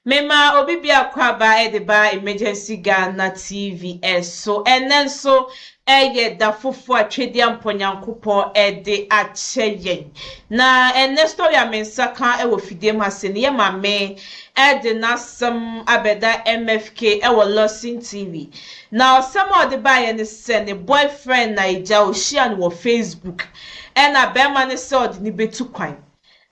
Memaa obi bi akwaaba de baa Emergency Ghana TV so. Ɛnnɛ nso, ɛyɛ da foforo a Twɛdi a Mpɔ Nyankopɔn de akyɛ yɛn. Na ɛnnɛ story a me nsa ka wɔ fidie mu ha sei no, yɛ Maame de n'asɛm abɛda MFK wɔ Lawson TV. Na ɔsɛm a ɔde baeɛ ne sɛ, ne boyfriend Naija, ɔhyiaa no wɔ Facebook, ɛna barima no sɛ ɔde no bɛtu kwan.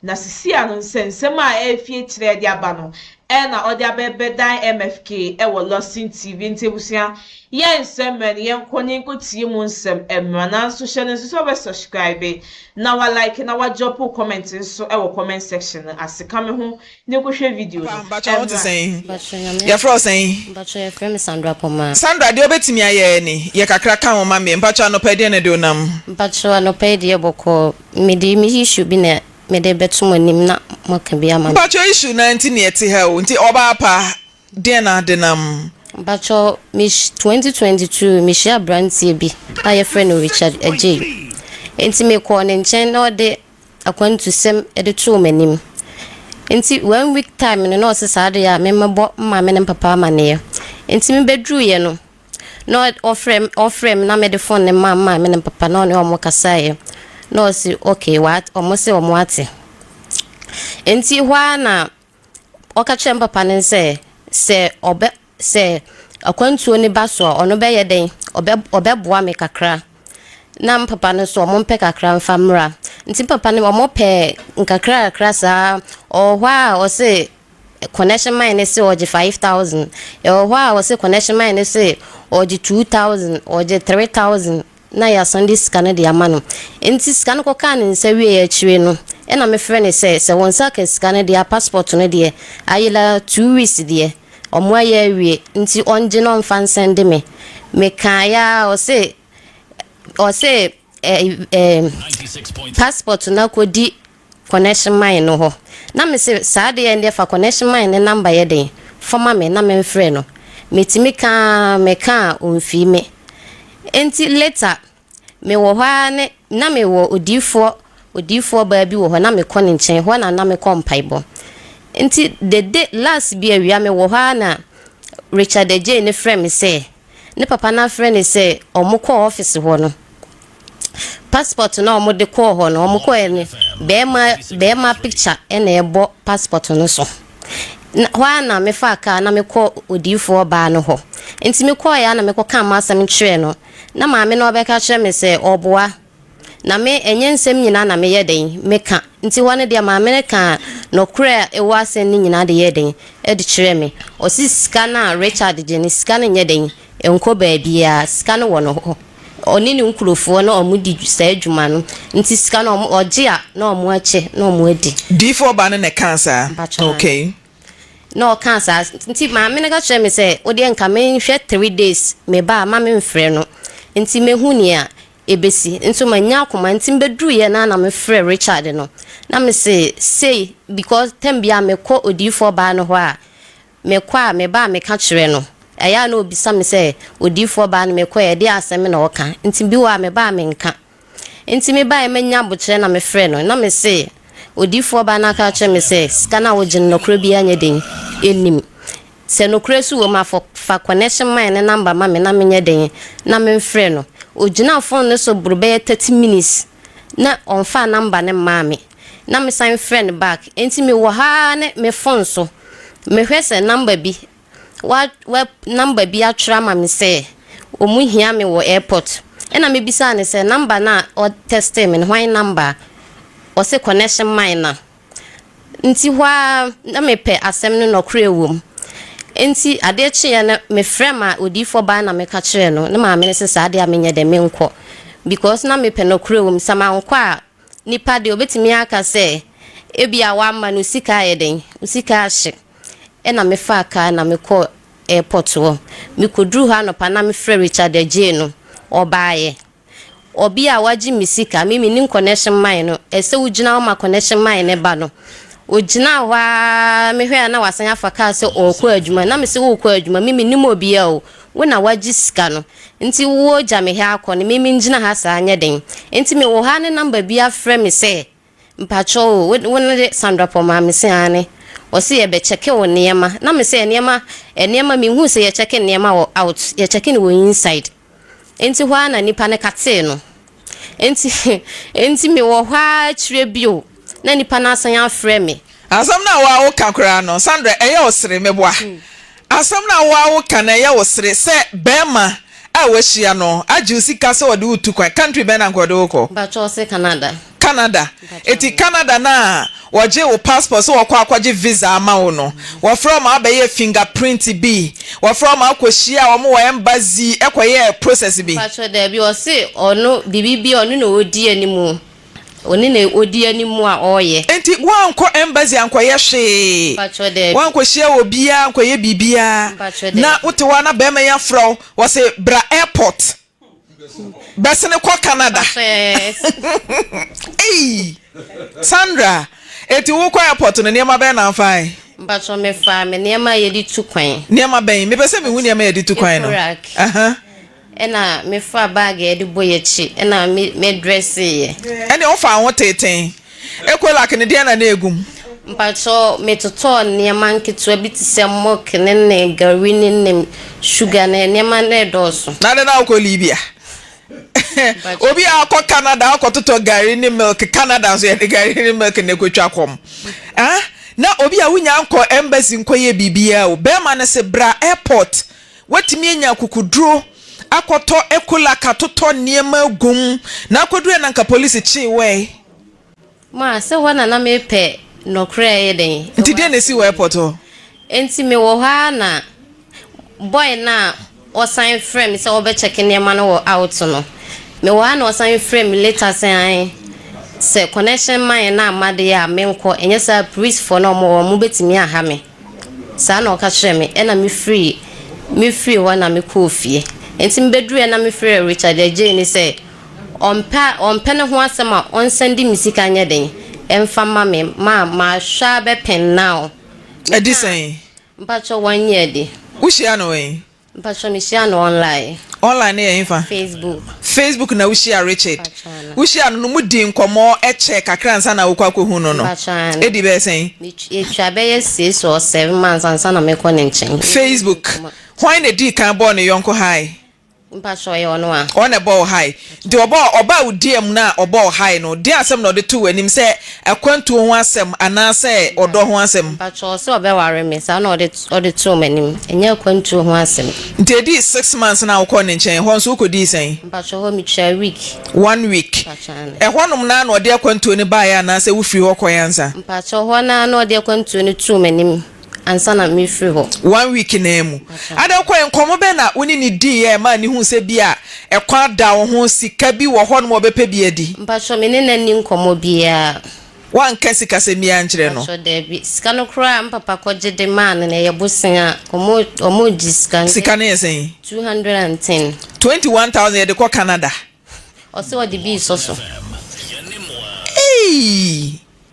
Na sisia no nsɛnsɛm a ɛrefi akyire ɛde aba no ɛna ɔde abɛbɛdan MFK ɛwɔ Lawson TV nti abusua yɛn nsɛ mmerɛ no yɛn kɔ ne nkɔ tie mu nsɛm ɛmra nanso hyɛ no nso sɛ wobɛ subscribe na wa like na wa drop wo comment nso ɛwɔ comment section no ase ka me ho Ne ko hwɛ video no ɛmra. Mpakyɛ nyame adom yɛfrɛ wo sɛn. Mpakyɛ yɛfrɛ me Sandra Pomah. Sandra deɛ wobɛtumi ayɛ ni yɛ kakra ka ho ma me mpakyɛ anɔpa yi deɛ na ɛde wo nam. Mpakyɛ anɔpa yi deɛ bɔkɔɔ mede me issue bi na mede bɛto mo anim na moaka bi ama me. Mpakyɛ issue no ara nti na yɛte ha o nti ɔbaa pa deɛ na ade nam. Mpakyɛ me hyi twenty twenty two me hyia abranteɛ bi a yɛfrɛ no Richard Agyei nti me kɔɔ ne nkyɛn na ɔde. akwantusɛm de too m'anim. Enti one week time no na ɔse saa ade a memmɛbɔ me maame ne me papa amanneɛ. Enti mebɛduruiɛ no na ɔfrɛ me ɔfrɛ me na mede phone no maa me maame ne me papa na ɔne wɔn kasaeɛ na ɔse okay wɔn se wɔate. Enti hɔ ara na Ɔka kyerɛɛ me papa no sɛ, sɛ ɔbɛ, sɛ akwantuo no ba so a, ɔno bɛyɛ dɛn? Ɔbɛ, ɔbɛboa me kakra. Na me papa no nso, wɔn mpɛ kakra mfa mmra. Nti papa no, wɔn pɛ nkakra kakra saa. Ɔwɔ hɔ a, ɔse connection man no se ɔgye five thousand. Ɛwɔ hɔ a, ɔse connection man no se ɔgye two thousand, ɔgye three thousand. na yɛasan de sika no de ama no. Enti sika no kɔkaa ne nsa wieeɛ akyire no, ɛna mefrɛ no sɛ, sɛ wo nsa aka sika no deɛ a, passport no deɛ, ayɛ la two weeks deɛ, wɔayɛ awie, nti ɔngye na ɔmfa nsɛnde me. Mekaeɛ ara, ɔse, ɔse eh, eh, passport no akɔdi connection mine no hɔ na me se saa adeɛ ɛndeɛ fa connection mine ne number yɛ den fama me na me nfrɛ no me tumi ka aa me ka aa ɔnfii me enti later me wɔ hɔ aa ne na me wɔ odiifoɔ odiifoɔ baa bi wɔ hɔ na me kɔ ne nkyɛn hɔ na na me kɔ mpaebɔ enti the day last bi awia me wɔ hɔ aa na Richard Adjei ne frɛ me sɛ ne papa no afrɛ no sɛ wɔkɔ office hɔ no passport no a wɔde kɔɔ hɔ no wɔkɔɛ no bɛrima bɛrima picture na ɛbɔ passport no so na hɔ a na mefaa kaa na mekɔ odiyifoɔ baa no hɔ nti mekɔɔeɛ a na mekɔka m'asɛm kyerɛɛ no na maame no ɔbɛka kyerɛ me sɛ ɔboa Na me, ɛnyɛ nsɛm nyinaa na meyɛ dɛn, meka, nti hɔ no deɛ maa me no kaa nɔkorɛ a ɛwɔ asɛm no nyinaa de yɛɛ dɛn, de kyerɛɛ me. Ɔse sika no a Richard gye no, sika no nyɛ dɛn, ɛnkɔ baabiaa, sika no wɔ ne hɔ, ɔne ne nkurofoɔ na ɔmo di saa dwuma no, nti sika no ɔmo, ɔgye a na ɔmo akyɛ na ɔmo adi. Diifoɔ baa no na ɛkaa saa? Mpakyɛw aane. Okay. Na ɔkaa saa, nti maame no ka kyerɛɛ me sɛ, wodeɛ nka menhwɛ three days, me ba a mma menfrɛ no, nti mɛhu nea ebesi. Nso mannya akoma nti mebɛduruiɛ no ara na mefrɛɛ Richard no na mese sei because tam biara mekɔ odiyifoɔ baa no hɔ a mekɔ a meba a meka kyerɛ no ɛyɛ a na ɔbisa me sɛ odiyifoɔ baa no mekɔɛ ɛdeɛ asɛm na ɔka nti bi wɔ a meba a menka nti mebaeɛ mannya abokyerɛ na mefrɛɛ no na mese odiyifoɔ baa no aka akyerɛ me sɛ sika no a wogye no nɔkorɛ biara nyɛ den nnim Sɛ nokorɛ nso wɔ mu a, fa connection mine ne number ma me na menyɛ dɛn na memfrɛ no. Ɔgyinaa phone no so boro bɛyɛ thirty minutes na ɔmfaa number no mmaa me. Na mesan frɛ no back. Enti mewɔ ha ara ne me phone so, mehwɛ sɛ number bi, wa, wa, number bi atwerɛ ama me sɛ wɔhia me wɔ airport. Ɛna mebisaa no sɛ number no a ɔtɛstee me no, hwan number a? Ɔse connection mine no a. Ntsi hɔ ara nna mepɛ asɛm no nɔkorɛ wɔ mu. Ntsi adeɛ kyeeɛ no, mefrɛɛ ma odiyifoɔ baa na meka kyerɛɛ no. Ne maame no se, Saa deɛ a menyɛ dɛ, menkɔ. Because na mepɛ nɔkorɛ wɔ mu. Sɛ mankɔ a, nipa deɛ ɔbɛtumi aka sɛ, ebia w'ama no sika ayɛ dɛn? Wo sika ahye. Ɛna mefaa kaa na mekɔɔ airport hɔ. Mekɔduruu hɔ anɔpa na mefrɛɛ Richard Adjei no, ɔbaeɛ. Ɔbea a wagye me sika, me mennim connection man no, ɛsɛ wogyina hɔ ma connection man no ba no. Ogyinaa hɔ ara, mehwɛe a na wasan afa kaa sɛ ɔrekɔ adwuma. Na mese, worekɔ adwuma? Me mennim obiara o, wo na wagye sika no, nti wogya me ha akɔ no, me mengyina ha saa nyɛ den. Nti mewɔ ha ne number bi afrɛ me sɛ Mpakyɛw o, wo wo no de Sandra Paul maa me? Mese aane. Ɔse yɛbɛkyɛke wo nneɛma. Na mese nneɛma, nneɛma, menhuu sɛ yɛkyɛke nneɛma wɔ out, yɛkyɛke no wɔ inside. Enti hɔ ara na nipa no katee no. Enti enti mewɔ hɔ ara akyire bio na nipa no asan afrɛ me. Asɛm no a wo a woka koraa no, Sandra, ɛyɛ ɔsere, meboa. Asɛm no a wo ara wo ka na ɛyɛ wo sere sɛ bɛɛma a wahyia no agye wo sika sɛ ɔde wo tu kwan, country bɛn na anka ɔde wo kɔ? Mpakyɛ ɔse Canada. Canada, eti Canada no a wɔgyee wo passport sɛ wɔkɔ akɔgye visa ama wo no wɔfrɛ wo ma wabɛyɛ finger print bi, wɔfrɛ wo ma wokɔ hyiaa wɔn wɔ embassy kɔyɛɛ process bi? Mpakyɛ daabi ɔse ɔno biribi bi a ɔno na ɔdi anim Wo ne na odi anim a ɔyɛ. Enti woankɔ embassy ankɔyɛ hwee? Mpakyɛw, daabi. Woankɔhyia obiara ankɔyɛ biribiara? Mpakyɛw, daabi. Na wote hɔ a na barima yi afrɛ wo, ɔse bra airport bɛsene kɔ Canada. Mpakyɛw, yes. Ei! Sandra, enti wokɔ airport no, nneɛma bɛn na fae? Mpakyɛw, mefaa me nneɛma a yɛde tu kwan. Nneɛma bɛn? Mepɛ sɛ mehu nneɛma a yɛde tu kwan no. Ecorac. Aha. Ɛna mefaa bag a yɛde bɔ yɛn akyi na me drɛseeɛ. Ɛnneɛ wofaa wo ho teetee. Ecolac no deɛn na na ɛgu mu? Mpakyɛw, metotɔɔ nneɛma nketewa bi te sɛ milk ne ne gari ne ne sugar ne nneɛma no redɔɔso. Na dɛn na wokɔ Libya? Obi a ɔkɔ Canada akɔtotɔ gari ne milk, Canada nso yɛde gari ne milk na ɛkɔtwa kɔm. Ah, na obi a wonnya nkɔ embassy nkɔyɛ biribiara o. Barima no se, Bra airport Woatumi anya akokoduro akɔtɔ ecollac atotɔ nneɛma agu mu na akɔduruɛ na anka polisi kyee wo ɛ. Ma, sɛ hɔ na na mepɛ nɔkorɛ a ɛyɛ dɛn. Nti deɛ na ɛsi wɔ airport hɔ? Nti me wɔ hɔ ara na boy no a ɔsan frɛ me sɛ ɔbɛ check nneɛma no wɔ out no, me wɔ ara na ɔsan frɛ me later sɛ ae sɛ connection ma yɛn na ama deɛ a menkɔ, ɛnyɛ saa a porisfoɔ no a wɔn wɔ hɔ no wɔbɛtumi aha me. Saa na ɔka kyerɛɛ me, ɛnna mefirii mefirii hɔ na mekɔɔ fie. Enti mebeduruiɛ na mefrɛɛ Richard agyei no sɛ ɔmpɛ ɔmpɛ ne ho asɛm a ɔnsan de me sika nyɛ dɛn mfa mma me ma mahwɛ ara bɛpɛn now. Adi sɛn? Mpakyɛw wanyɛ adi. Wohyiaa no wɛn? Mpatsɔ mehyia no online. Online no yɛ henfa? Facebook. Facebook na wuhyia Richard? Mpatsɔ ana. Wuhyia no no mo di nkɔmɔ kyɛ kakra ansa na wokɔ akɔhu no no? Mpatsɔ ana. Edi bɛyɛ sɛn? Metw yɛtwa bɛyɛ six or seven months ansa na mekɔ ne nkyɛn. Yɛyɛ Facebook. nkɔmɔ. Hwan na edii kan bɔɔ ne yɔnko high? Mpatsɔ ɔyɛ ɔno a. Ɔno na ɛbɔɔ wo high? Deɛ ɔbɔɔ ɔba a ɔdiiɛm no a ɔbɔ ɔhae no, deɛn asɛm na ɔde too w'anim, sɛ akwantuo ho asɛm anaa sɛ ɔdɔ ho asɛm? Mpakyɛw, ɔse ɔbɛware me, saa na ɔde too m'anim, ɛnyɛ akwantuo ho asɛm. Nti ɛdii six months no a wokɔɔ ne nkyɛn, ɛhɔ nso wokɔdii sɛn? Mpakyɛw, hɔ metwaa week. One week. Mpakyɛw, aane. Ɛhɔ nom no ara na ɔde akwantuo no baeɛ anaa sɛ wofiri hɔ kɔeɛ ansa? Mpakyɛw, hɔ no ara na ɔde akwantuo no too m'anim. ansa na merefiri hɔ. One week no ara mu. Adan kɔeɛ, nkɔmmɔ bɛn na wo ne no diiɛ a ɛmaa no huu sɛ ebia ɛkwan da wo ho, sika bi wɔ hɔnom a ɔbɛpɛ bi adi? Mpakyɛ, me ne no anni nkɔmmɔ biara. Woanka sikasɛm biara ankyerɛ no? Mpakyɛ, daabi. Sika no koraa a me papa kɔgye de maa no no, ɛyɛ bosea a wɔregye sika. Sika no yɛ sɛn? Two hundred and ten. Twenty one thousand yɛde kɔ Canada. Ɔse ɔde bi resɔ so. Eii!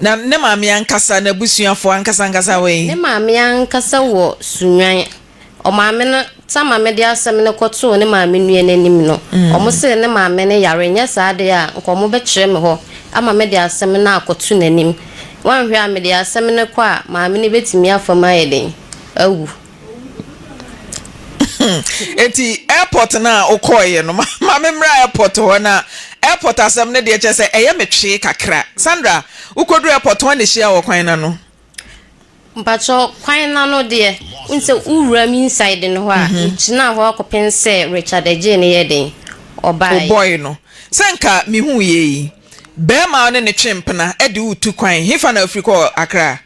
Na ne maame ankasa, n'abusuafo ankasa ankasa wɔ he? Ne maame ankasa wɔ Sunnwan. Ɔmaame no, ta maame de asɛm no kɔtoo ne maame nua no anim no, wɔsee ne maame no yare, nyɛ saa de a, nka wɔbɛkyerɛ me hɔ ama me de asɛm no akɔto n'anim. Wanhwɛ a, mede asɛm no kɔ a, maame no betumi afa mu ayɛ dɛn? Awu. eti airport no a wokɔɔeɛ no ma me mmra airport hɔ na airport asɛm no deɛ kyerɛ sɛ ɛyɛ me twee kakra Sandra wokɔduru airport wɔn na hyia wɔ kwan no ano mpakyɛ kwan no ano deɛ wohu sɛ wowura m inside no hɔ a mhm. megyinaa hɔ akɔpem sɛ Richard agyee no yɛ den ɔbaeɛ ɔbɔe no sɛ nka mehu yɛ yi bɛrima ne ne twe mpena de wotu kwan hefa na afiri kɔ akra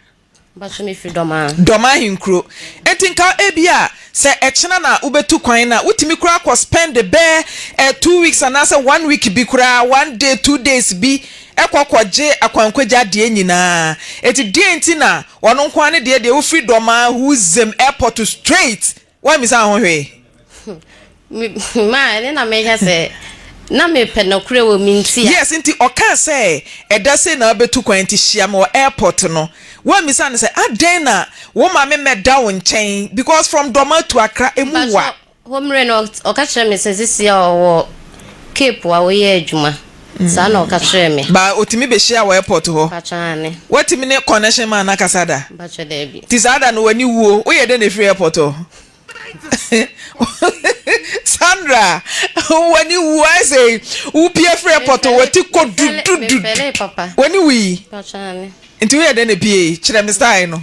Mpacho me firi Dɔmaa. Dɔmaa henkuro. Enti nka ebia sɛ ɛkyena na wobɛtu kwan no a, wotumi koraa kɔ spend bɛɛ eh two weeks anaasɛ one week bi koraa, one day, two days bi kɔ kɔgye akwankwagye adeɛ nyinaa. Enti deɛn nti na ɔno nko ara ne deɛ deɛ wofiri Dɔmaa Huzem Airport straight Woammisaa ho hwee? Me, ma, ɛne na mehwɛ sɛ, na mepɛ nɔkorɛ wɔ me nti a. Yes, nti ɔkaa sɛ, ɛda sei na wobɛtu kwan nti hyia me wɔ airport no. Woammisa no sɛ, adɛn na wo ma me mmɛda wo nkyɛn because from Dormaa to Accra, ɛmu wa. Mpakyɛw, hɔ mmere no, ɔka kyerɛɛ me sɛ sesie a ɔwɔ Cape a ɔyɛ adwuma. Saa na ɔka kyerɛɛ me. Ba otumi behyia wɔ airport hɔ? Mpakyɛ aane. Watumi ne connection man no akasa da? Mpakyɛ daabi. Nti saa da no w'ani wuo? Woyɛ dɛn na efiri airport hɔ? Sandra w'ani wuo ayɛ sɛ wopie firi airport hɔ w'ati kɔ dudududu w'ani wui? Mpakyɛ aane. Nti woyɛ dɛn na epiee? Kyerɛ me style no.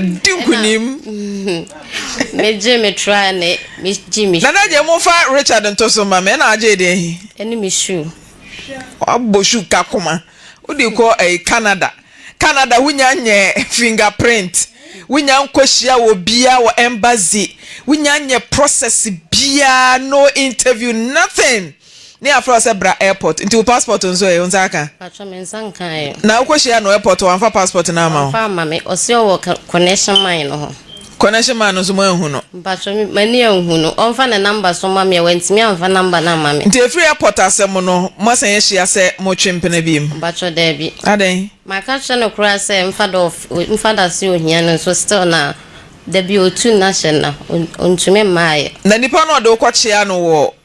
di nkunim. me gye me tra ne me gye me. nana gye mo fa richard nto so ma me ɛna agye deɛ hi. ɛne me shoe. wabɔ shoe ka koma wode kɔ ɛyi canada canada wonya nyɛ fingerprint wonya nkɔ hyia wɔ bia wɔ embassy wonya nyɛ process bia no interview nothing. Ne yɛ afrɛ wo sɛ bra airport nti wo passport nso ɛ wo nsa aka? Mpakyɛw me nsa nkaeɛ. Na wo kɔ hyia no airport hɔ wanfa passport no ama wo? Wanfa ama me ɔse ɔwɔ connection man no hɔ. Connection man no nso mo anhu no? Mpakyɛw me m'ani anhu no ɔnfa ne number nso ma me ɛ wantumi anfa number no ama me. Nti ɛfiri airport asɛm no mo asan ahyia sɛ mo twe mpena biom? Mpakyɛw daabi. Adɛn? Maka kyerɛ no koraa sɛ mfa da ɔf mfa da se ohia no nso still na dabi ɔtu nna hyɛ nna ɔntumi mmaeɛ. Na nipa no ɔde wo kɔ kyea no wɔ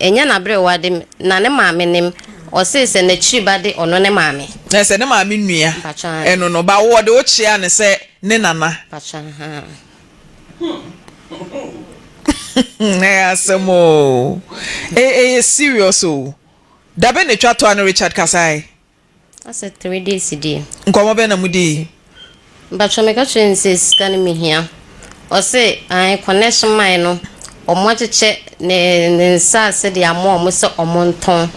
Ɛnyɛ n'aberewade me na ne maame nim, ɔsee sɛ n'akyiri ba de ɔno ne maame. Ɛ sɛ ne maame nua ɛno no ba wɔde wo kyea no sɛ ne nana. Mpakyɛ ahaa hmm ɛyɛ asɛm oo ɛyɛ serious oo dabe na twa toa no Richard kasaɛ. Asɛ three days deɛ. Nkɔmɔ bɛn na mo dii? Mpakyɛw me ka kyerɛɛ no sɛ sika no me hia ɔse ae connection mae no ɔmo akyekyɛ ne ne nsaase de ama ɔmo sɛ ɔmo ntɔn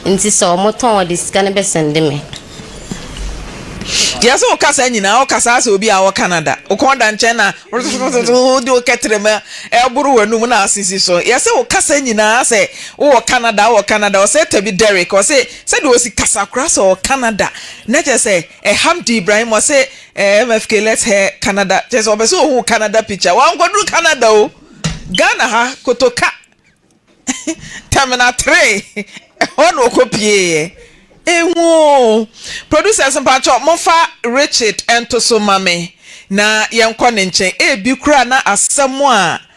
nti sɛ ɔmo tɔn ɔde sika no bɛ sɛnde me. Deɛ sɛ wo ka saa nyinaa wo ka saa sɛ obi a ɔwɔ Canada wo kɔn da nkyɛn na rttrtrtrtrtt wo de wo kɛtrɛma ɛboro w'anum na asisi so yɛ sɛ wo ka saa nyinaa sɛ wo wɔ Canada wo wɔ Canada ɔsɛ tabi Derrick ɔse Sɛdeɛ ɔsi kasa koraa sɛ ɔwɔ Canada na kyerɛ sɛ Hamdi Ibrahim ɔse MFK let's hair Canada kyerɛ sɛ ɔpɛ sɛ ɔhu Canada picture wankɔduru Canada o Ghana ha kotoka terminal three ɛhɔ na ɔkɔ pieeɛ ehu oo Producers mpakyɛw momfa Richard ntoso ma me na yɛnkɔ ne nkyɛn ebi koraa na asɛm a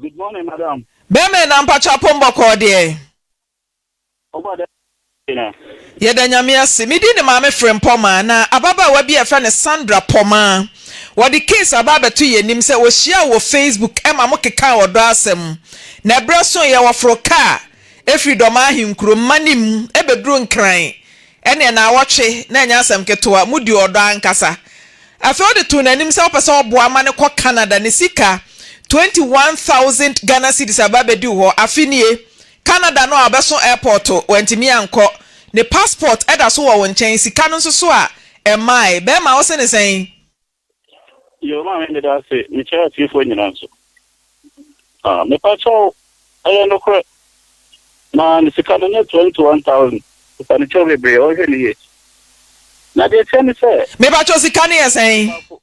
Good morning madam. Bɛmee na mpakyɛw pombɔ kɔɔ deɛn. Ɔbɔ dɛ na. Yɛda Nyame ase. Me din de Maame Frempɔmaa na ababaawa bi a yɛfrɛ no Sandra Pɔmaa. Wɔde case aba abɛto yɛn anim sɛ wɔhyiaa wɔ Facebook ma mo kekaa ɔdɔ asɛm. Na ɛberɛ soeɛ wɔforoo kaa firi Dɔmaa Ahenkuro, Mmanim, bɛduruu Nkran. Ɛnneɛ naawɔtwe na ɛnyɛ asɛm ketewa, modi ɔdɔ ankasa. Afei ɔde too n'anim sɛ ɔpɛ sɛ ɔboa ma no kɔ Canada, ne sika twenty one thousand Ghana cedis aba abɛdi wo hɔ, afe nie, Canada no a ɔbɛso airport wantumi ankɔ, ne passport da so wɔ wo nkyɛn, sika no nso so a ɛmmae, bɛɛma wo se no sɛn? Yoo maame meda ase mekyɛ atiefoɔ nyinaa nso ah mepakyɛw ɛyɛ nokorɛ na ne sika no nyɛ twenty one thousand mpanikyɛw bebree ɔhwɛ ne yie na deɛ ɛteɛ ne sɛ. Mepakyɛw sika no yɛ sɛn.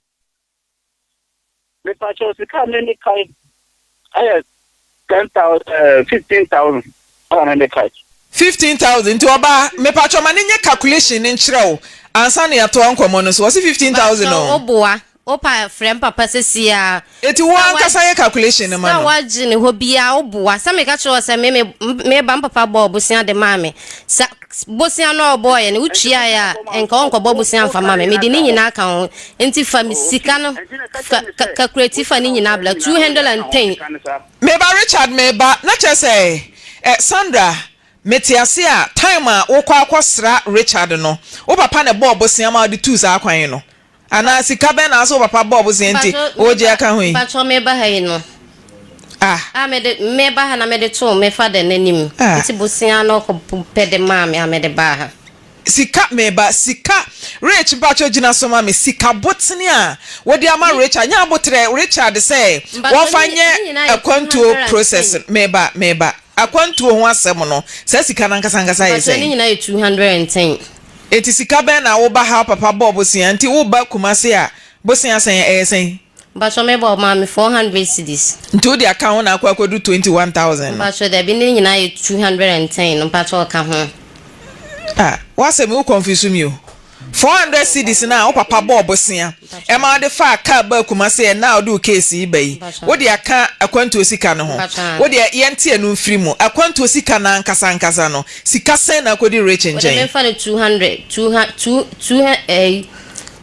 Mepakyɛw sika a mɛmi kae ɛyɛ ten thousand ɛɛ eh, fifteen thousand ɛna ne de kae. fifteen thousand nti ɔbaa mepatwɔ ma ne nyɛ calculation ne nkyerɛ wo ansa na yɛatoa nkɔmɔ no so ɔsi fifteen thousand o. bàtò oboa opa frɛ mpapa sisi a. eti wo ankasa yɛ calculation no ma no. sɛ wagye ne hɔ bia oboa sɛ meka kyerɛ wɔ sɛ me me me ba mpapa bɔɔ bosia de maa me sa bosia no a ɔbɔɔ yɛ no wotua yɛ a nka ɔnkɔbɔ bosia nfa ma me mede ne nyinaa ka ho Nti fa me sika no ka kakurati fa ne nyinaa bla two hundred and ten. Meba Richard meba na kyerɛ sɛ eh Sandra mete ase a time a wokɔ akɔ sra Richard no wo papa na ɛbɔɔ bosea ma ɔde tuu saa kwan yi no anaa sika bɛn na ase wo papa bɔɔ bosea nti ɔɔgye aka ho yi. Mpakyɛw meba ha yi no ah ah mede meba ha na mede too me father no anim nti bosea no ɔkɔ pɛ de maa me a mede baa ha. Sika meba sika rich mpakyɛw gyina so ma me sika botene a wode ama Richard nyɛ aboterɛ Richard sɛ wɔmfa nyɛ akwantuo process no meba meba akwantuo ho asɛm no saa sika no ankasa ankasa yɛ sɛn? Enti sika bɛn na woba ha papa bɔɔ bosea nti woba Kumasi a bosea sɛn ɛyɛ sɛn? Mpacho me bɔ maa me four hundred cedis. Nti wo de aka ho na akɔ akɔduru twenty one thousand no. Mpacho dabi ne nyinaa yɛ two hundred and ten no mpacho ɔka ho. Ah w'asɛm yi wo confuse me o four hundred cedis no a wo papa bɔɔ bosea ɛma ɔde faa car baa Kumasi ɛnnɛ a wode wo case yi ba yi wo de aka akwantuo sika no ho wo deɛ yɛnte ɛno mfiri mu akwantuo sika no ankasa ankasa no sika sɛn na akɔdi Rich nkyɛn. Wo de menfa no two hundred two ha two two eh.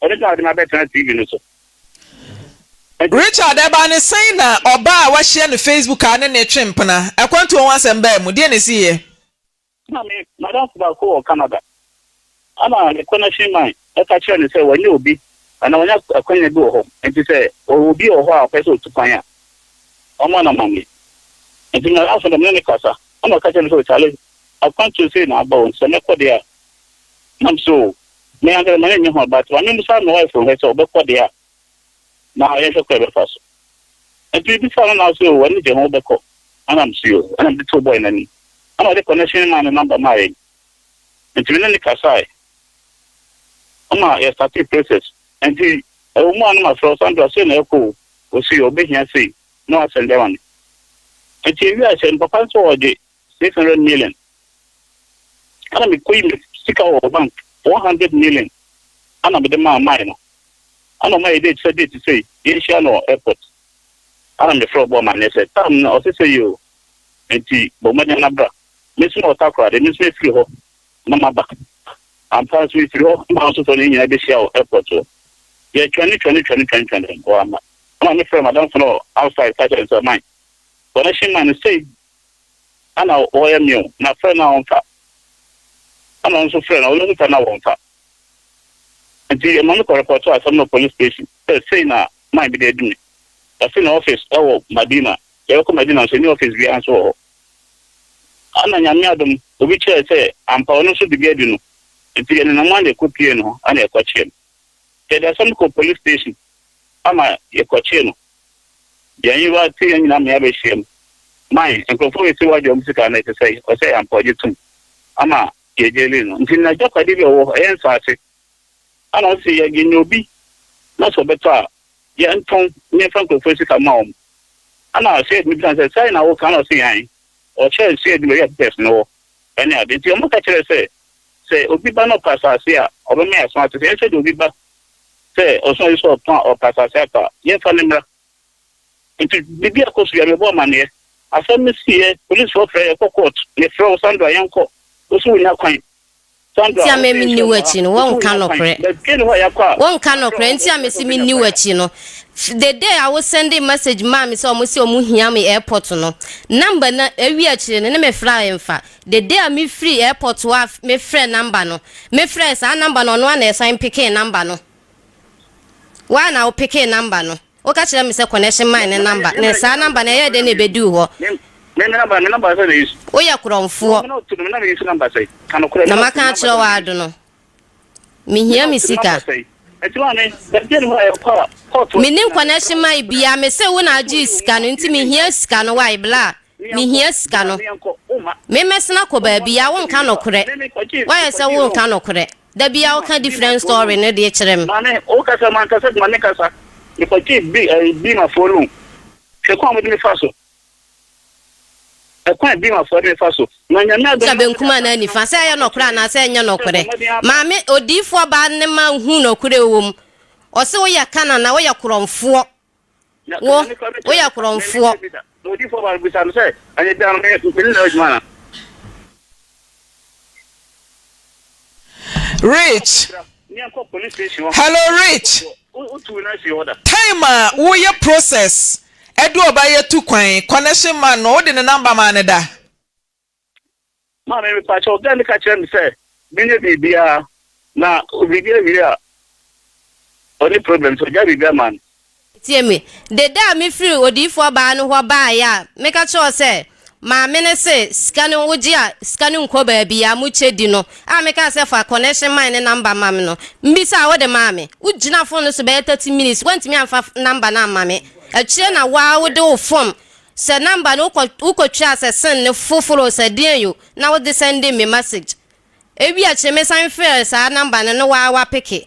Richard ma bɛtena TV no so. Richard, ɛbaa no sɛn na ɔbaa a wahyia no Facebook a ne ne twe mpena? Akwantuo ho asɛm baa mu, deɛn na ɛsiiɛ? Na me madamfo baako wɔ Canada, ɛna ne connection man ka kyerɛɛ no sɛ wanya obi anaa wanya akwanya bi wɔ hɔ, nti sɛ ɔwɔ obi wɔ hɔ a ɔpɛ sɛ ɔtu kwan a, ɔmma no amanneɛ. Nti madamfo no, me ne no kasa, ɛna ɔka kyerɛɛ me sɛ, Charlie, akwantuo sei na aba o, nti sɛ mɛkɔ deɛ a, Nam so o. Me ankasa m'ani nnye ho but ma memmisa me wife nhwɛ sɛ ɔbɛkɔ deɛ a na yɛnhwɛ kwan a yɛbɛfa so. Nti mebisa no na ɔse o w'ani gye ho wobɛkɔ ɛna mesee o ɛna mede too boy no anim ɛna ɔde connection maa ne number maa yɛn nti me ne no kasae ɛma yɛ startee process nti ɛwɔ mu a na mafrɛ wo Sandra sei na ɛrekɔ o ɔse o ɔbɛhia sei na wasɛndɛ ma me nti yɛwie aseɛ no papa nso ɔgye six hundred million ɛna me kɔ yi me sika wɔ bank four hundred million ɛna me de maa ɔmae no ɛna ɔmae date sɛ date sɛ yɛn hyia no wɔ airport ɛna me frɛ ɔbɔ ɔmae ne sɛ tam no ɔsɛ sɛ yɛ o nti bɔ mmɔden na bra me nso wɔ takora de me nso efiri hɔ na ma ba ampa nso efiri hɔ na nso fɔ ne nyinaa bɛ hyia wɔ airport wɔ yɛ twɛn ne twɛn ne twɛn ne twɛn twɛn ne wɔ ama ɛna me frɛ madam fɔ no outside sɛ sɛ ɔmae bɔ ne hyɛn ma ne sɛ Ana wɔyɛ mew na frɛ no a ɔmfa ana ɔno nso frɛ no a ɔno mfa no a wɔmfa nti ɛma me kɔ repɔto asɛm no wɔ police station sɛ sei na man bi de adi me ɔse ne office ɛwɔ Madina yɛbɛkɔ Madina nso ɛnni office biara nso wɔ hɔ ana Nyame adom obi kyerɛɛ sɛ ampa ɔno nso de bi adi no nti yɛnenam ana ɛkɔ piee no hɔ ana yɛkɔkyee no yɛde asɛm no kɔɔ police station ama yɛkɔkyee no Yɛn yerwa ntsi hɛn nyina mea behyia mu. Mae, nkorɔfo risi w'agya mu sika no etse sɛi? Ɔsɛ yɛ ampa, ɔgye tom ama yɛ gyelii no ntsi n'agyapadze bi a ɔwɔ hɔ, ɔyɛ nsaase. Ana ɔsɛ yɛ yenya obi na sɛ ɔbɛtɔ a yɛntɔn na yɛmfa nkorɔfo sika mma hɔn? Ana Sead no bisa no sɛ, Sɛɛ na wo ka? Ana ɔse, Ae. Ɔkyerɛɛ Sead no beebi a pipers no wɔ ne ade. Ntsi wɔbɛka kyerɛɛ sɛ, Sɛ obi ba na ɔpɛ asaase a, ɔbɛma yɛ aso atse sɛ yɛnhwɛ dɛ obi ba sɛ ɔsoma bi sɛ ɔtɔn a, ɔpɛ asase afa a, yɛmfa no mmra. Nti biribi akɔ so biara, mebɔ amanneɛ. Asɛm no siiɛ, polisfoɔ frɛɛ yɛn kɔ court. Mefrɛ wo, Sandra, yɛnkɔ. Wo se wonnya kwan. Sandra, wo se nsuo mmɔ ha. Wo se wonnya kwan. But fie no hɔ a yɛakɔ a, mefrɛ wo, wo se wobɛnya kwan. The day a wo sɛnde message maa me sɛ wɔse wɔhia me airport no, number no awie akyire no, ne me frɛ a ɛmfa. The day a me firii airport hɔ a me frɛɛ number no, me frɛɛ saa number no ɔno ara na ɛsan pekee number no. Why na wo pekee number no? Wo ka kyerɛ me sɛ connection man ne number, ne saa number no ɛyɛɛ dɛn na ɛbɛduu hɔ? Me me number, me number sɛ na yesu. Wo yɛ korɔnfoɔ. Wo me na ɔto no, me na me yesu number sɛ, ka nokorɛ, me Na na ɔto maka me number akyerɛ sɛ wo na yesu. ado no. Mehia me sika. Menim connection ma bia me se wo na agye sika no nti mehia sika no why bla mehia sika no memɛsena kɔ baabi a wonka nokorɛ wayɛ sɛ wonka nokorɛ da bia woka different story no deɛ kyerɛ me maame wokasa mankasa de maame kasa mekɔgye bi eh, bi ma fo loan hwɛ kwan mede me fa so Ɛkwan bɛn afɔre no fa so ma Nyame adom? Sɛ benkum anaa nifa, sɛ ɛyɛ nɔkorɛ anaa sɛ ɛnyɛ nɔkorɛ. Maame, odiyifoɔ baa no ma ɔhuu nɔkorɛ a ɛwɔ mu. Ɔse, woyɛ Kanana, woyɛ korɔmfoɔ. Wo, woyɛ korɔmfoɔ. Na odiyifoɔ baa no bisa no sɛ, Anadwo biara no, me, me ne no yɛ adwuma anaa? Rich, hello Rich, time a wo yɛ process ɛde ɔba yɛ tu kwan connection man no wode ne number maa ne da? Maame me pa kyɛw gɛn ne ka kyerɛ me sɛ menyɛ biribiara na biribi awie a ɔne problem so gya biribi ama no. Tie me. De da a mefiri odiyifoɔ baa no hɔ baeɛ a, meka kyerɛɛ wo sɛ, Maame no se, sika no wogye a, sika no nkɔ baabiara, mokyɛ di no, a mekaa sɛ fa connection man no number ma me no, mbisaa a wode maa me. Wogyinaa phone no so bɛyɛ thirty minutes, woantumi amfa number no amma me. Akyire na wo ara wode wo phone sɛ number no, wokɔ, wokɔtwaa sɛ send no foforɔ o, sɛ deɛn o, na wode sɛndee me message. Ebia kyereme san frɛɛ saa namba no no waa wa peke.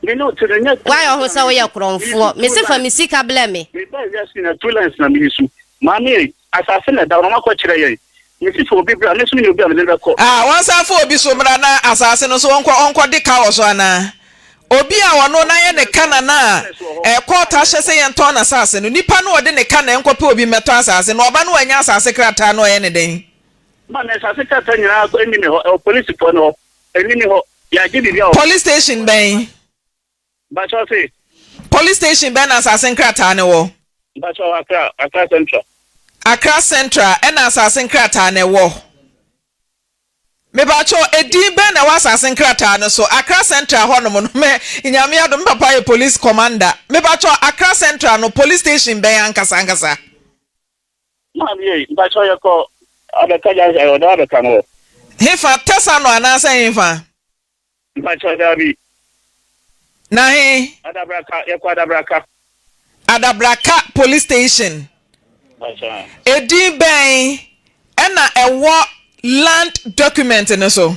Me ne wo te no nyɛ tu lens na me yi su. Wayɛ ho sɛ woyɛ korɔnfoɔ. Me se fa me sika blɛ me. Me baa wiase nyinaa tu lens na me yi su. Maame ei, asase na ɛda hɔ na wɔakɔ kyerɛ yɛn. Me se fa obi bra me nso me ne obi a me ne no bɛkɔ. Ah, wɔnsan fa obi so mmra na asase no nso ɔnkɔ ɔnkɔ de ka wɔ so anaa? Obi a ɔno n'ayɛ ne ka na na ɛkɔ taa hyɛ sɛ yɛn tɔn n'asase no. Nipa no ɔde ne ka na ɛnkɔ pɛ obi mmɛtɔ asase no ɔba no wanya asase krataa no ɔyɛ ne dɛn? Ma me nsase krataa nyinaa nkɔ ɛnni me hɔ ɛwɔ polisifɔ no hɔ ɛnni me hɔ yɛ agye biribi a wɔ. Police station bɛn. Mpakyɛw se. Police station bɛn na nsase nkrataa no wɔ. Mpakyɛw Accra Accra central. Accra central ɛna nsase nkrataa no ɛwɔ mepakyɛw ɛdin bɛn na ɛwɔ asase nkrataa no so Accra central hɔ nom no mɛ nyame adom me papa yɛ police commander mepakyɛw Accra central no police station bɛn ankasa ankasa. Maa mi ei, mpakyɛw yɛkɔ Adaka junction ɛɛ ɔda Adaka no hɔ. Hefa, Tesa no anaasɛ hefa? Mpakyɛw daabi. Na he? Adabraka, yɛkɔ Adabraka. Adabraka police station. Mpakyɛw ɛ? Edin bɛn ɛna ɛwɔ land document no so?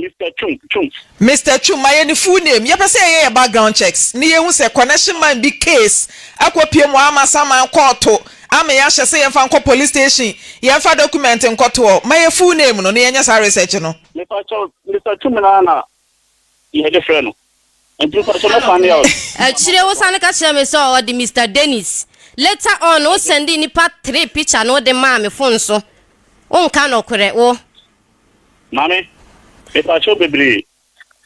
Mister Twum, Twum. Mister Twum, Mayɛ ne full name. Yɛpɛ sɛ yɛyɛ yɛ background checks ne yɛhu sɛ connection man bi case akɔpue mu ama saman kɔɔto ama yɛahyɛ sɛ yɛmfa nkɔ police station yɛmfa document nkɔtoɔ. Mayɛ full name no na yɛnyɛ saa research no. Mepa kyɛw, Mister Twum no ara na yɛde frɛ no. Nti sɛ so mo panel. Akyire wo sane ka kyerɛ me sɛ ɔde Mister Dennis. Later on wo sɛndee nipa three picture no wode maa me phone so. Wo nka nɔkorɛ wo. Maame, mepakyɛw bebree.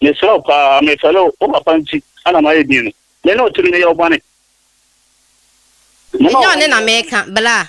Mesrɛ wo paa, mefɛle wo, wo papa nti na mayɛ din no. Me ne wo te no, meyɛ wo bɔne? Ɛnyɛ ɔne na meka, bra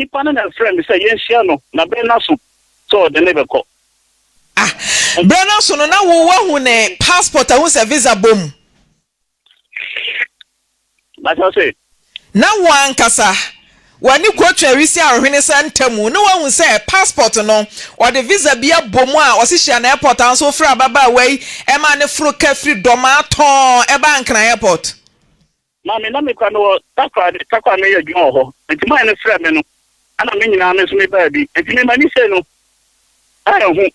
Nipa no na ɛfrɛɛ me sɛ yɛnhyia no, na berɛ no aso sɛ ɔde me bɛkɔ. Ah, berɛ no aso no, na wo woahu ne passport a wohu sɛ visa bɔ mu? Mate ase. Na wo ankasa, w'ani kɔtwa awisi ahwehwene saa ntamu na woahu sɛ passport no, ɔde visa bi abɔ mu a ɔse hyia no airport a wo nso wofrɛ ababaawa yi maa ne foro ka firi Dɔmaa tɔɔn baa Nkran airport. Maame, na mekura me wɔ takoradi, takoa meyɛ adwuma wɔ hɔ, nti mane no frɛ me no ɛna me nyinaa me nso me baa bi, nti me mani sei no anhu,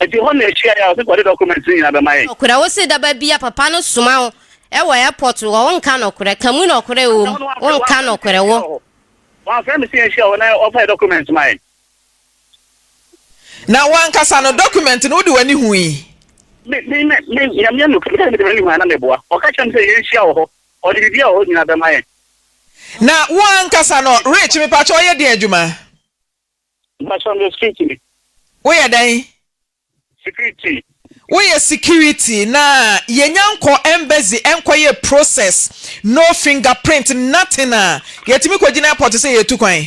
nti hɔ na ɛhyiaeɛ a ɔse kɔde documents no nyinaa bɛma yɛn. Nɔkorɛ wo se daba bia papa no soma wo wɔ airport hɔ wo nka nɔkorɛ, ka mu nɔkorɛ wɔ mu, wo nka nɔkorɛ wo. Wamfrɛ me se yɛnhyia hɔ na ɔmfa yɛn documents ma yɛn. Na wo ankasa no, document no, wode w'ani hui? Me, me, me, me, Nyame yɛ nokware, sɛ mede m'ani hui a na meboa. Ɔka kyerɛɛ me sɛ yɛnhyia wɔ hɔ, ɔde biribiara a ɔwɔ nyinaa bɛma yɛn. Na wo ankasa no, Rich, mepakyɛ woyɛ deɛn adwuma? Mepakyɛ meyɛ security ni. Woyɛ dɛn? Security. Woyɛ security, na yɛnya nkɔ embassy nkɔ yɛ process, no finger print, nothing a, yɛtumi kɔgyina airport sɛ yɛretu kwan?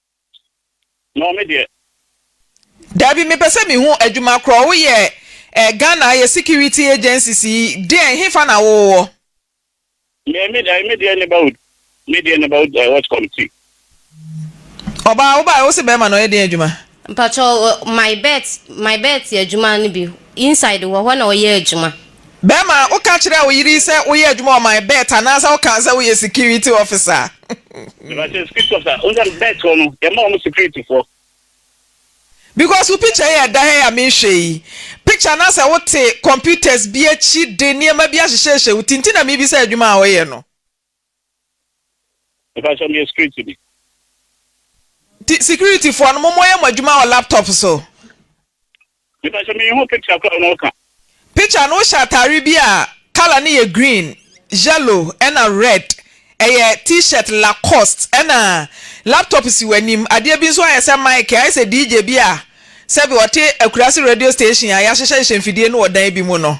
No me deɛ. Dabi mepɛ sɛ mehu adwuma korɔ wo yɛ eh Ghana yɛ security agencies yi deɛn hefa na wo wɔ. Me me eh me deɛ neighborhood me deɛ neighborhood eh watch committee. Ɔbaa wo baeɛ wo se bɛɛma na ɔyɛ deɛn adwuma. Mpakyɛw my bet my bet adwuma no bi inside hɔ hɔ na ɔyɛ adwuma. Bɛrima, woka kyerɛɛ wo yere sɛ woyɛ adwuma wɔ my bet anaasɛ wokaa sɛ woyɛ security officer a? Meba sɛ security officer, wohu sɛ bet hɔ no yɛma wɔn security foɔ. Because wo picture yi a ɛda ha yi a mehwɛ yi, picture no asɛ wote computers bi akyi de nneɛma bi ahyehyɛhyɛ wo ti nti na mebisa adwuma a woyɛ no. Mepakyɛ meyɛ security ni. Nti security foɔ no mo mo yɛ mo adwuma wɔ laptop so. Mepakyɛ me nhu picture koraa na ɔka. Picture no wo hyɛ ataare bi a colour no yɛ green, yellow ɛna red ɛyɛ t-shirt lacoste ɛna laptop si w'anim adeɛ bi nso ayɛ sɛ mic ayɛ sɛ DJ bi a sɛbi ɔte akurase radio station a yahyehyɛ hyehyɛ mfidie no wɔ dan bi mu no.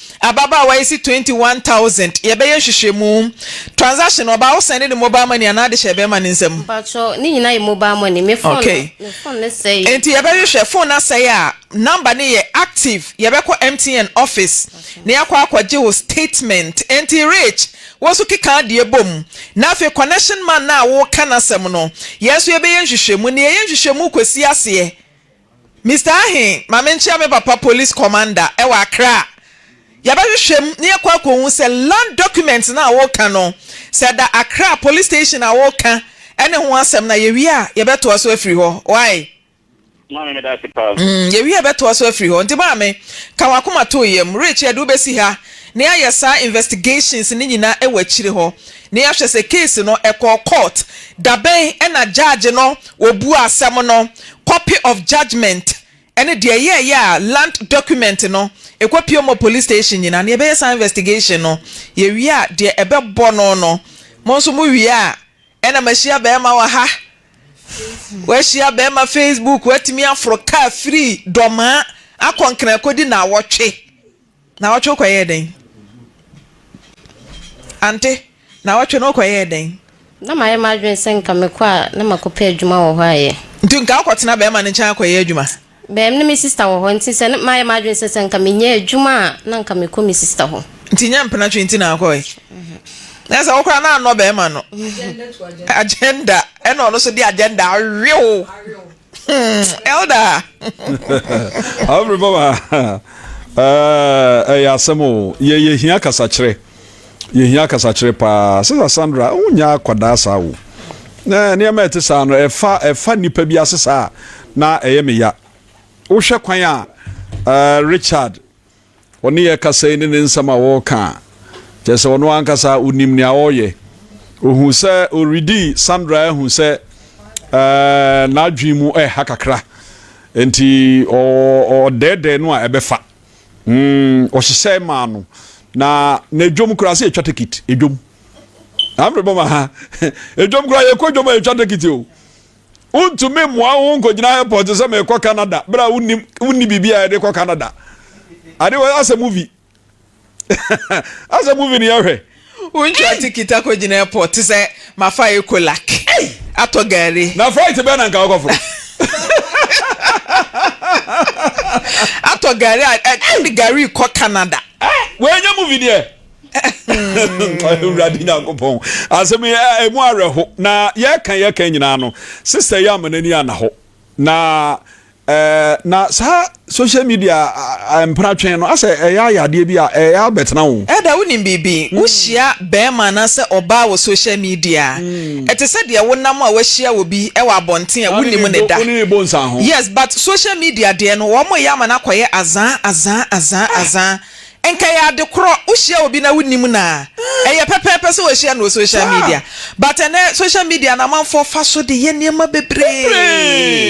Ababaawa yi se twenty one thousand yɛbɛyɛ nhwehwɛmu, transaction no ɔbaa wo sɛnde ne mobile money anaa ade hyɛɛ bɛɛma no nsam? Mpakyɛw ne nyinaa yɛ mobile money me phone no me phone no sɛe. Enti yɛbɛhwehwɛ phone no asɛe a number no yɛ active yɛbɛkɔ MTN office na yɛakɔ akɔgye wo statement enti Rich wo nso keka adeɛ bom na afei connection man no a woreka n'asɛm no yɛn nso yɛbɛyɛ nhwehwɛmu na yɛyɛ nhwehwɛmu kɔsi aseɛ Mister Ahe, ma menkyea me papa police commander wɔ Accra. Yɛbɛhwehwɛ mu na yɛakɔ akɔhu sɛ land document no a woreka no, sɛ ɛda Accra police station a woreka ne ho asɛm no a, yɛwie a yɛbɛtoa so afiri hɔ. Wai? Maame, meda ase paa. Mm, yɛwie a yɛbɛtoa so afiri hɔ. Nti maame, ka w'akoma to yam. Richard, wobɛsi ha na yɛayɛ saa investigations no nyinaa wɔ akyire hɔ. Na yɛahwɛ sɛ case no ɛkɔɔ court dabɛn ɛna judge no ɔbuaa asɛm no, copy of judgement ɛne deɛ ɛyɛɛyɛ a land document no ɛkɔ pie mɔ police station nyinaa na yɛbɛyɛ saa investigation no yɛwie a deɛ ɛbɛbɔ no no mo nso mo wie a ɛna mahyia bɛɛma wɔ ha wahyia bɛɛma facebook watumi aforo car firi dɔmaa akɔ nkran kɔdi naawɔtwe. Naawɔtwe wo kɔyɛɛ dɛn? Ante, Naawɔtwe no wo kɔyɛɛ dɛn? Na mayɛ m'adwene sɛ nka mekɔ a na makɔpɛ adwuma wɔ hɔ ayɛ. Nti nka wokɔtena bɛɛma no nkyɛn akɔyɛ adwuma? Bɛɛm ne me sista wɔ hɔ nti sɛ na mayɛ m'adwene sɛ sɛ nka menya adwuma a na nka mekɔ me sista hɔ. Nti nyɛ mpenatwe nti na wokɔɔe? Na sɛ wo koraa na annɔ bɛɛma no agenda ɛna ɔno nso de agenda awe wo. Hmm, elder. Abri baba. Eh, eh asem o. Ye ye hia kasa kyerɛ. Ye hia kasa kyerɛ pa. Sister Sandra, o nya kwadaa saa o. Na nneɛma ɛte saa no ɛfa ɛfa nipa bi ase saa na ɛyɛ me ya. Wohwɛ kwan a eh, Richard Ɔne yɛn kasa yi ne ne nsɛm a ɔreka a, kyerɛ sɛ ɔno ankasa onim nea ɔreyɛ. Ohu sɛ ɔredi Sandra ahu sɛ n'adwene mu reha kakra, enti ɔdɛɛdɛɛ no a ɛbɛfa. Ɔhyehyɛe maa no, na n'adwam koraa sɛ yɛtwa tekit, adwam. Afei bɔ ma ha, adwam koraa yɛkɔ adwam a yɛtwa tekit o. wontumi mmoa wo nkɔgyina airport sɛ merekɔ canada berɛ a wonim wonni biribi a yɛde kɔ canada ade wɔ asɛ movie asɛ movie ne yɛhwɛ wontua tikiti akɔgyina airport sɛ mafa ecolak atɔ gari na flight bɛn na nka wokɔforo atɔ gari a ɛde gari kɔ canada wei nyɛ movie deɛ awurade nyankopɔn asɛm ɛmu awerɛho na yɛka yɛka nyinaa no sista yi ama n'ani ana hɔ na eh, na saa social media mpena twɛn no asɛ ɛyɛ ayɛ adeɛ bi a ɛyɛ abɛtena wo ɛda wonim biribi mm. wohyia bɛrima anaasɛ ɔbaa wɔ social media mm. ɛte sɛ deɛ wonam a wahyia wɔ bi ɛwɔ abɔnten a wonim ne da yes but social media deɛ no wɔn yɛ ama no akɔyɛ azaa azaa azaa azaa Nka ɛyɛ ade korɔ wohyia obi na wonim no a, ɛyɛ pɛpɛɛpɛ sɛ wahyia no wɔ social media but ɛnɛ social media no amanfoɔ fa so de yɛ nneɛma bebree.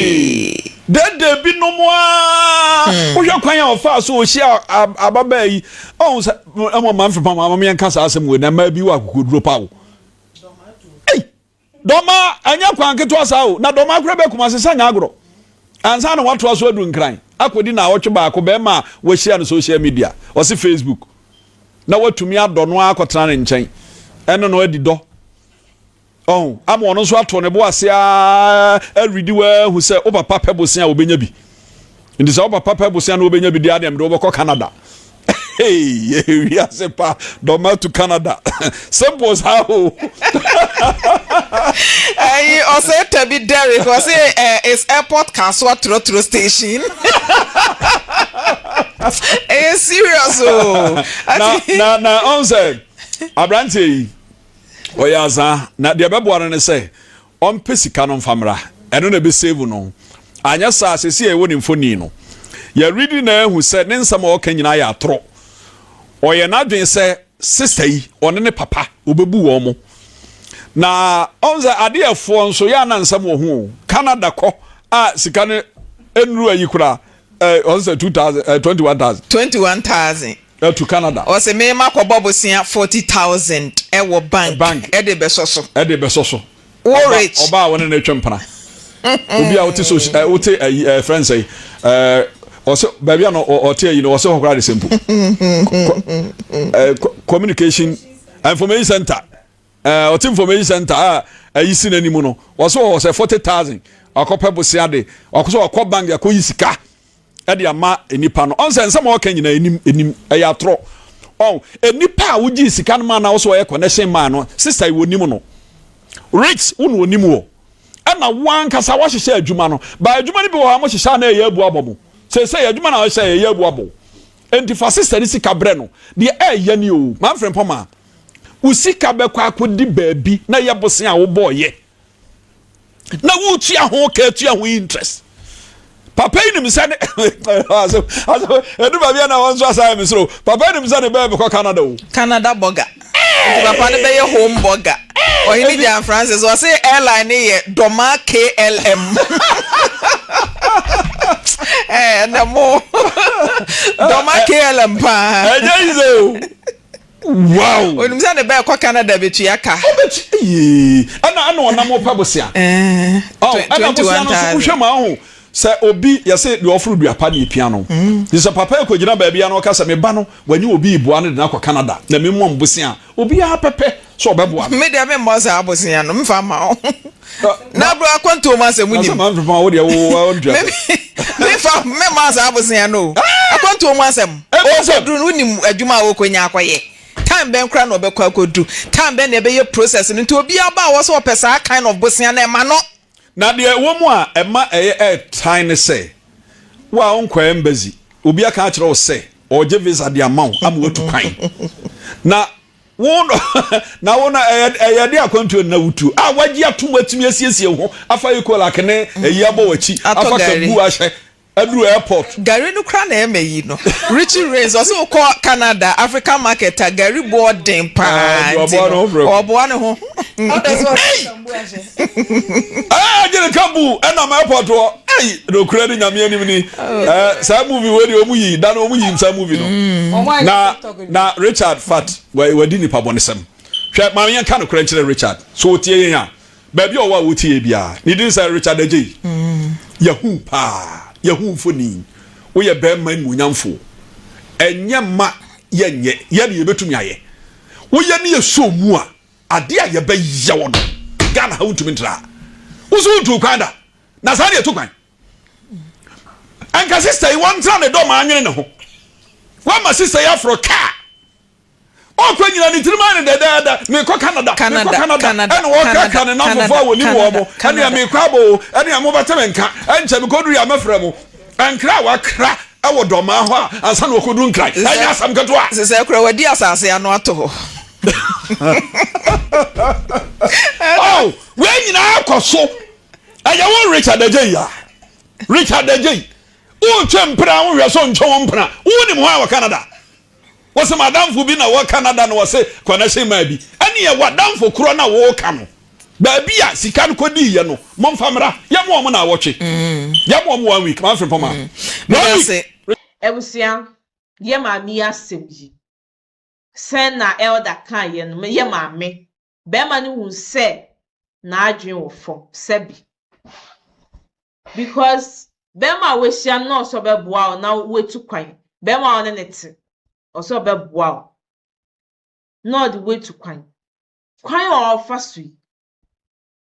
Dede binom ara wohwɛ kwan a ɔfaa so ɔhyia ababaa yi ɔhu sɛ mmom mamfepam ama meɛnka saa asɛm wei na mmaa bi wɔ akokoduro pa o. Dɔma, ɛnyɛ kwan ketewa saa o, na Dɔma koraa bɛɛ Kumasi sɛ nyɛ agorɔ. Ansa na watoa so adu Nkran, akɔdi naawɔtwe baako barima a wahyia no social media, ɔse Facebook, na watumi adɔ no ara akɔtena ne nkyɛn, ɛne no adi dɔ. Ɔho, ama ɔno nso ato ne bo ase ara redi wo ara ahu sɛ wo papa pɛ bosea a ɔbɛnya bi. Nti sɛ wopapa pɛ bosea na wobɛnya bidi adeɛ mede wobɛkɔ Canada. Hey, wiase pa dɔma to Canada. Simple saa o. Ayi ɔsɛ tabi Derek ɔsɛ eh, is airport kasoa trotro station. Ɛyɛ serious o. Na na na ɔn sɛ aberanteɛ yi ɔyɛ azaa na deɛ ɛbɛboa no ne sɛ Ɔmpɛ sika no mfa mmra. Ɛno na ɛbɛ save no. Anyɛ saa a, seesei a yɛwɔ ne mfonin no, yɛ read no na yɛahu sɛ ne nsɛm a ɔka nyinaa yɛ atorɔ. Ɔyɛ n'adwene sɛ sister yi, ɔne ne papa, ɔbɛbu wɔn. Na ɔhu sɛ adeɛfoɔ nso, yɛ a na nsɛm wɔ ho o. Canada kɔ a sika no nnuru ayi koraa, Eh, ɔn sɛ two thousand, eh, twenty one thousand. Twenty one thousand. Eh, to Canada. Ɔsɛ me ma kɔ bɔ bosea forty thousand ɛwɔ bank. Bank. Ɛde bɛ sɔ so. Ɛde bɛ sɔ so. Wo rich. Ɔba a wɔne ne twɛ mpana. Obi a wote so, eh, wote ayi, eh, friend sɛ, eh, ɔsɛ baabi a no ɔte ayi no ɔsɛ hɔ koraa de sɛ mpo. Eh, communication information center. Eh, ɔte information center a ayi si n'anim no wɔsɛ wɔwɔ sɛ forty thousand wakɔpɛ bosea de wakɔsɛ wakɔ bank de akɔyi sika ɛde ama nipa no ɔnsɛ nsɛm a ɔka nyinaa enim enim ɛyɛ atorɔ ɔn nipa a wogye sika no ma na wɔsɛ wɔyɛ connection ma no sista yi wɔnim no rich wo na wɔnim wɔ ɛna wankasa wahyehyɛ adwuma no ba adwuma no bi wɔ hɔ a mohyehyɛ a na ɛyɛ abu abɔ mo sɛ sɛ adwuma na wɔhyɛ ɛyɛ abu abɔ nti fa sista no sika brɛ no deɛ ɛyɛ ne o manfrɛ mpɔ maa wo sika bɛkɔ akɔdi baabi na yɛ bosea a wobɔɔyɛ na wotua ho ka tua ho interest papa yi nim sɛ ne ɛdu baabi a na wɔn nso asan me soro papa yi nim sɛ ne bɛɛ bɛkɔ Canada o Canada bɔga nti papa no bɛyɛ home bɔga ɔhene Jan Francis ɔse airline ne yɛ dɔma KLM ɛnɛ mo dɔma KLM paa ɛnyɛ yi sɛ o Wow! Onim sɛ ne ba ɛkɔ Canada betua ka. Ɔbɛtua eii ɛna ɛna ɔnam ɔpɛ bosea. Ɛɛ. Ɔn ɛna bosea no nso wohwɛ mu ahu sɛ obi yɛsɛ deɛ ɔforo dua pa na epia no. Nti sɛ papa yi kɔ gyina baabi a na ɔka sɛ me ba no wanya obi reboa no de no akɔ Canada na me mmɔ no bosea a obiara pɛpɛ sɛ ɔbɛboa no. Me deɛ me mmɔ saa bosea no mfa ma wo. na bro akwantuo mu asɛm nim. Asɛm anfefa wo deɛ wo wa ɔntua. Me fa me ma saa abosia no. Ah! Akwantuo mu asɛm. Ɔkɔ duru no wonim adwuma a ɔkɔ nya akɔ yɛ. Time bɛn kora na ɔbɛkɔ akɔ du. Time bɛn na ɛbɛyɛ process no nti obi aba a wɔsɛ ɔpɛ saa kind of bosia no ɛma no. Na deɛ ɛwɔ mu a ɛma ɛyɛ ɛɛtan ne sɛ wo a ɔnkɔ embassy obi aka akyerɛ wo sɛ ɔregye visa de ama wo ama watu kwan na Wo no, na wo no, ɛyɛ ɛyɛ de akwantuo na wutu a wagye atom atumi asiesie ho afa Ecolak ne ayi abɔ w'akyi afa kabu ahyɛ aduru airport. Gari no kura na ɛma yi no Richie Rains ɔsɛ wokɔ Canada African market a gari boɔ den paa nti no ɔboa ne ho. Ɛɛ gye ne kabu ɛnam airport hɔ ɛyi nokura ne nyame anim ni ɛɛ saa movie wei de ɔmu yi da no ɔmu yi saa movie no na. Na Richard fat wadi nipabɔnesɛm. Hwɛ, ma yɛnka nokorɛ nkyerɛ Richard, sɛ ɔtie yɛn a, baabi a ɔwɔ a ɔtie yɛn biara. Ne din sɛ Richard Adjei. Yɛahu wo paa. Yɛahu wo mfoni. Woyɛ barima animuonyamfo. Ɛnyɛ mma yɛnyɛ. Yɛ deɛ yɛbɛtumi ayɛ. Woyɛ ne yɛsɔ wo mu a, adeɛ a yɛbɛyɛ wo no, Ghana ha wontumi ntraa. Wo nso wontuu kwan da. Na saa ne yɛtu kwan. anka sista yi wɔntena ne dɔ ma anyene ne ho wɔama sista yi aforo kaa ɔkɔ nyina ne tirim ayɛ ne dɛdɛɛdɛ mekɔ canada mekɔ canada ɛna wɔkrakra ne namfofo a wɔnim wɔ mo ɛne a mekɔ abɔ o ɛne a mobɛte me nka ɛnkyɛ mekɔduru yɛ a mɛfrɛ mo nkra a wakra ɛwɔ dɔmaa hɔ a ansa na wɔkɔduru nkran ɛnyɛ asɛm ketewa sɛ sɛ kora wadi asase ano ato hɔ oh, wei nyinaa kɔ so ɛyɛ wo richard agyei ya richard agyei wontwe mpena a wohwɛ so ntwe wo mpena wonim hɔ a wɔ canada wɔsɛ madamfo bi na wɔ canada na wɔsɛ connection maa bi ɛneɛ wadamfo korɔ na wɔka no baabi a sika no kɔdiiɛ no momfa mmra yɛmo ɔmo na awɔtwe mm. yɛmo ɔmo one week mamfre pɔma mm. one week abusua yɛ maame yi asɛm yi sɛn na elder kaeɛ no yɛ maame barima no hu sɛ n'adwene wɔ fam sɛ bi because barima a wahyia no na ɔsɛ ɔbɛboa wo na watu kwan barima a ɔne ne te ɔsɛ ɔbɛboa wo na ɔde watu kwan kwan a ɔfa so yi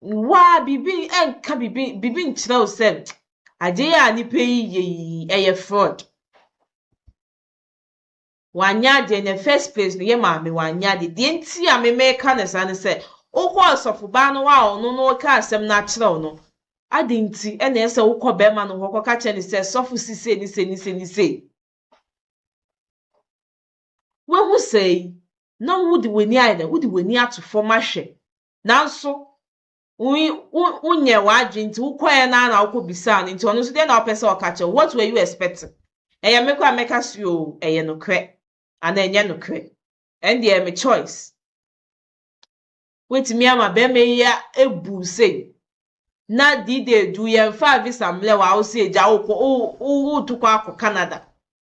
waa biribi nka biribi biribi nkyerɛ wo sɛ adeɛ a nipa yi yɛ yi ɛyɛ fraud Wanyɛ adeɛ in the first place no yɛ maame wanyɛ adeɛ deɛ nti a me meka no saa ne sɛ wokɔ ɔsɔfobaa no hɔ a ɔno no reka asɛm no akyerɛ wo no aden nti na ɛyɛ sɛ wokɔ bɛrima no hɔ kɔka kyerɛ no sɛ sɔfo si sei ne sei ne sei ne sei wahu saa yi na wode w'ani ayɛ dɛ wode w'ani ato fam ahwɛ nanso wonyɛɛ w'adwene nti wokɔeɛ no ara na wokɔbisaa no nti ɔno nso deɛ na ɔpɛ sɛ ɔka kyerɛ what were you expecting ɛyɛ me koraa mɛka sɛ o ɛyɛ nokorɛ anaa ɛnyɛ nokorɛ ɛn deɛ me choice wotumi ama bɛrima yi abu sei na dide edu yɛmfa visa mmerɛ wɔ a wo sɛ agya wokɔ woto kɔ akɔ Canada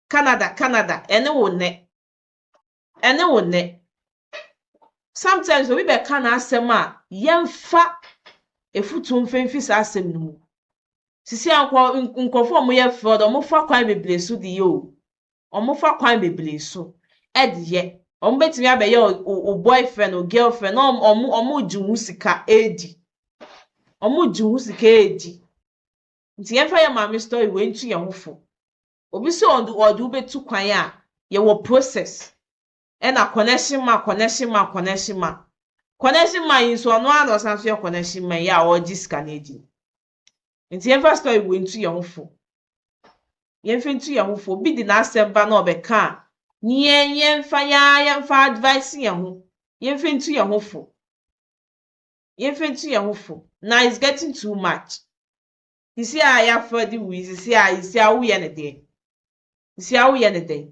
Canada Canada ɛne wo nnɛ ɛne wo nnɛ. Sometimes obi bɛka n'asɛm a, yɛmfa afutuo mfa mfiri saa asɛm no mu. Sisi a nkɔ nkurɔfoɔ a wɔyɛ fraud, wɔfa kwan bebree so de yɛ o. Wɔfa kwan bebree so de yɛ. Wɔbɛtumi abɛyɛ wo boyfriend, wo girlfriend na wɔn wɔregye wo ho sika redi. Wɔregye wo ho sika redi. Nti yɛmfa yɛn maame story wei ntu yɛn ho fo. Obi sɛ ɔde ɔde wo bɛtu kwan a, yɛwɔ process ɛna connection man connection man connection man connection man yi nso ɔno ara na ɔsan nso yɛ connection man yi a ɔregye sika no adi no nti yɛmfa story wei ntu yɛn ho fo yɛmfa ntu yɛn ho fo obi de n'asɛm ba na ɔbɛka a ne yɛn yɛmfa yɛn ara yɛmfa advice yɛn ho yɛmfa ntu yɛn ho fo yɛmfa ntu yɛn ho fo na it's getting too much Sisi a yɛafa de wui sisi a sisi a woyɛ no deɛ sisi a woyɛ no dɛn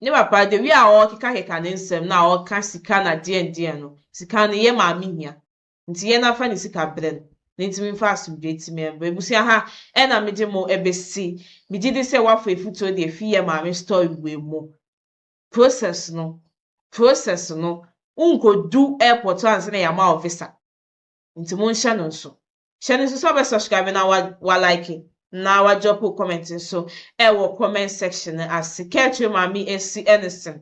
ne papa de wi a ɔrekekakeka ne nsɛm na ɔreka sika na deɛn deɛn no sika no yɛ maame hia nti yɛn afa ne sika brɛ no na ntumi nfa asomdwe ti mɛ mbrɛ ebusua ha ɛna megye mo ɛbɛsi megye di sɛ wafa efutuo deɛ fi yɛ maame story wei mu process no process no nkodu airport ansa na yɛama wo visa. nti monhyɛ no nso hyɛ no nso sɛ ɔbɛ subscribe na wa wa like na wa drop wo comment nso ɛwɔ comment section no ase kɛɛkyerɛ maame esi ɛnesen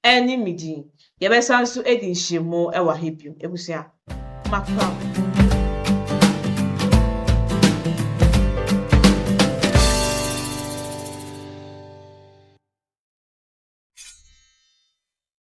ɛne me din yɛbɛsan nso edi nhyiamu ɛwɔ ha bio ebusua makra.